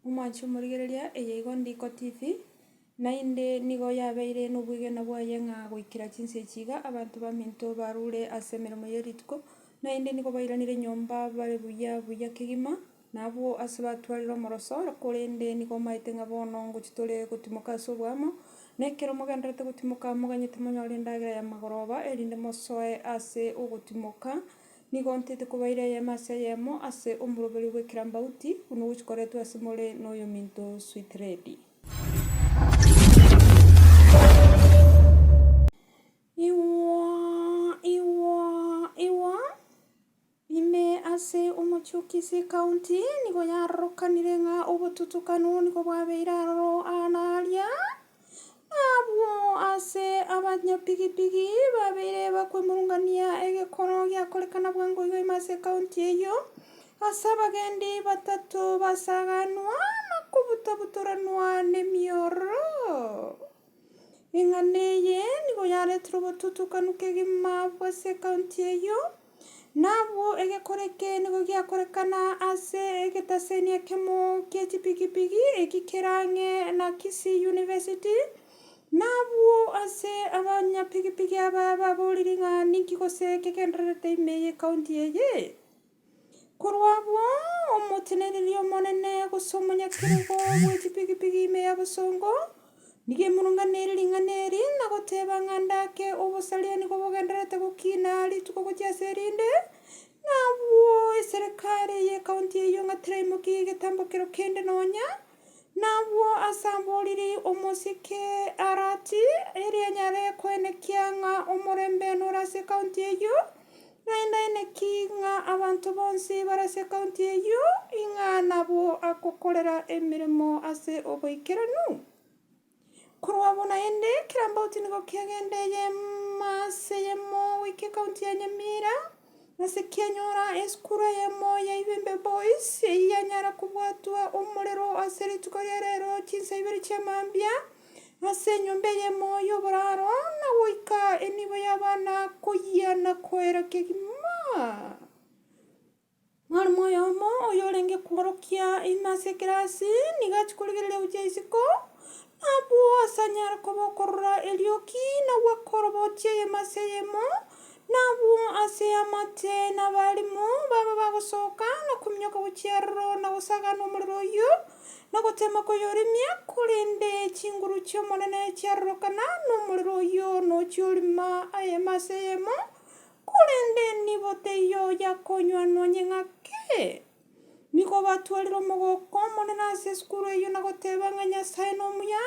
Omwanche omorigereria, eye igo Ndiko TV, naende nigo yabeire nobwegena bwaye ng'a goikera chinsa echi iga abanto baminto barure ase emeremo ye rituko, naende nigo bairanire nyomba bare buya buya kegima. Nabwo ase batwarire omoroso oro, korende nigo omaete ng'a bono ngochia tore gotimoka ase oboamo, na ekero mogendererete gotimoka moganyete monyore endagera y'amagoroba, erinde mosoe ase ogotimoka, nigo ntete kobaira eyemo ase eyemo ase omoroberi bw'ekerambauti, buna gochikoretwe ase more noyominto Switredi. Igwa, igwa, igwa! Ime ase omochie-o-kisi ekaunti nigo yarorokanire ng'a obotutukanu nigo bwabeire aroro aa na aaria, na abwo ase abanyapigipigi babeire bakwemurungania egekoro giakorekana bwango iga ime ase ekaunti eyio, ase abagendi batato basaganwa na kobutabutoranwa nemioro. Ing'ana eye nigo yaretire obotutukanu kegima abwo ase ekaunti eyio, na abwo egekora eke nigo giakorekana ase egetaseni ekemo gie chipigipigi eki kere ang'e na Kisii University, na abwo ase abanyapigipigi aba baboriri ng'a ninki gose kegendererete ime y'ekaunti eye. Korwa abwo, omoteneneri omonene, gose omonyakerogo bwe chipigipigi ime ya bosongo, nigo emurunganeire ring'ana eri, na goteeba ng'a ndake obosaria nigo bogendererete gokina rituko gochia ase erinde, na abwo eserekari y'ekaunti eyio ng'a teraimokia egetambo kero kende nonya. Nabwo asamborire omosike Arati, erio anyare koenekia ng'a omorembe nore ase county eyio, naende aenekie ng'a abanto bonsi bare ase county eyio ing'a nabwo agokorera emeremo ase oboikeranu. Korwa bo naende, kera mbauti nigo kegende eye maase eyemo goika ekaunti ya Nyamira, ase kianyora esukuru eyemo ya Ibembe Boys, eyio yanyara kobwatwa omorero ase rituko ria rero chinsa ibere chia mambia, ase enyomba eyemo y'oboraro, na goika enibo y'abana koyia na koera kegima. Mwarimũ oyomo oyorenge kworokia ime ase ekerasi nigo achia korigereria gochia isiko, nabwo ase anyare koba okorora erioki na gwakoroboti eyemo ase eyemo, nabwo ase amache na abarimũ baba bagosoka na kominyoka gochia aroro na gosagana omorero oyio, na gotema koyoremia, korende chinguru chi'Omonene chiarorokana nomorero oyio na ochia orima eyemo ase eyemo. Korende nibo teiyo oyakonywa nonye ng'ake. Nigo batwarire omogoko omonene ase esukuru eyio na goteba ng'a Nyasae nomuya,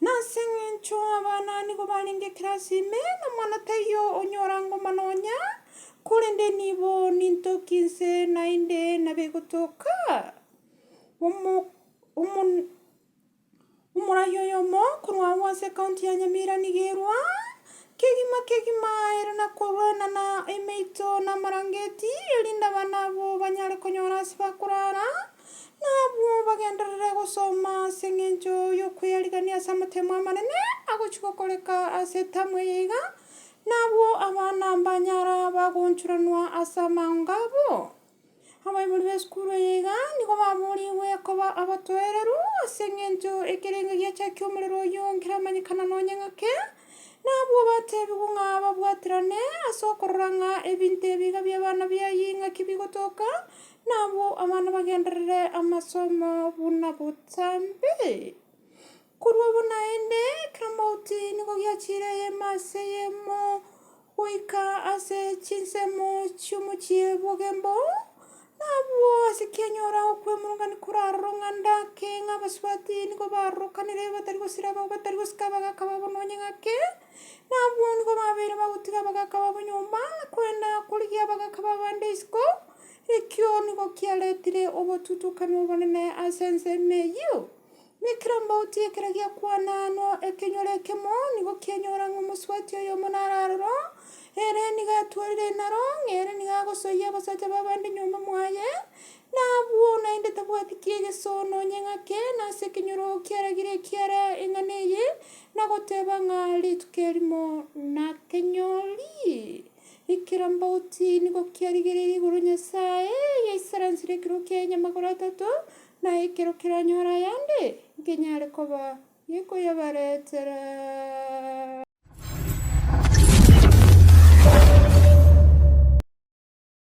na ase engencho abana nigo barenge ekerasi ime, na omwana taiyo onyora ngoma nonya, korende nibo nintoki inse naende nabegotoka. Omo, omo. Omoraia oyomo korwa agwo ase ekaunti ya Nyamira nigo erwa kegima kegima ere na korwenana emeito na amarangeti, erinde abana abo banyare konyora ase bakorara, na abwo bagenderere gosoma ase engencho y'okweyarigania ase amatemo amanene agochia gokoreka ase etamu eye iga, na abwo abana mbanyara bagoonchoranwa ase amaonga abo. Abaibori b'esukuru eye iga nigo baboorigwe koba abatoereru ase engencho ekerengo giachakia omorero oyio nkeramanyekana nonya ng'ake, na abwo bateebigwe ng'a babwaterane ase okorora ng'a ebinto ebi iga bi'abana bi'ayio ing'aki bigotoka, na abwo abana bagenderere amasomo buna botambe. Korwa obo naende, kera mouti nigo giachiire eyemo ase eyemo goika ase chinsemo chi'omochie bw'ogembo, na abwo ase kianyora okwemurungania koraroro ng'a ndake ng'a abasubati nigo barorokanire batari gosira abao batari gosika abagaaka babo nonye ng'ake, na abwo nigo babeire bagotiga abagaaka babo nyomba, na kwenda korigia abagaaka b'abande isiko, ekio nigo kiaretire obotutukani obonene ase ensemo eyio. Ne kera mbauti ekero giakwana anwo ekenyoro ekemo, nigo kianyora ng'a omosubati oyomo nararoro, ere nigo atwarire naro, ng'a ere nigo agosoyia abasacha b'abande nyomba mwaye, na abwo naende tabwati ki'egeso nonye ng'ake, na ase ekenyoro kiaragire ekiara eng'ana eye, na goteba ng'a rituko erimo nakenyori. Ne kera mbauti nigo kiarigereirie igoro Nyasae yaisaransirie ekero kiaye nyamagoro atato, Na ekero keranyora ayande, nkenyare koba gekoyabaretera.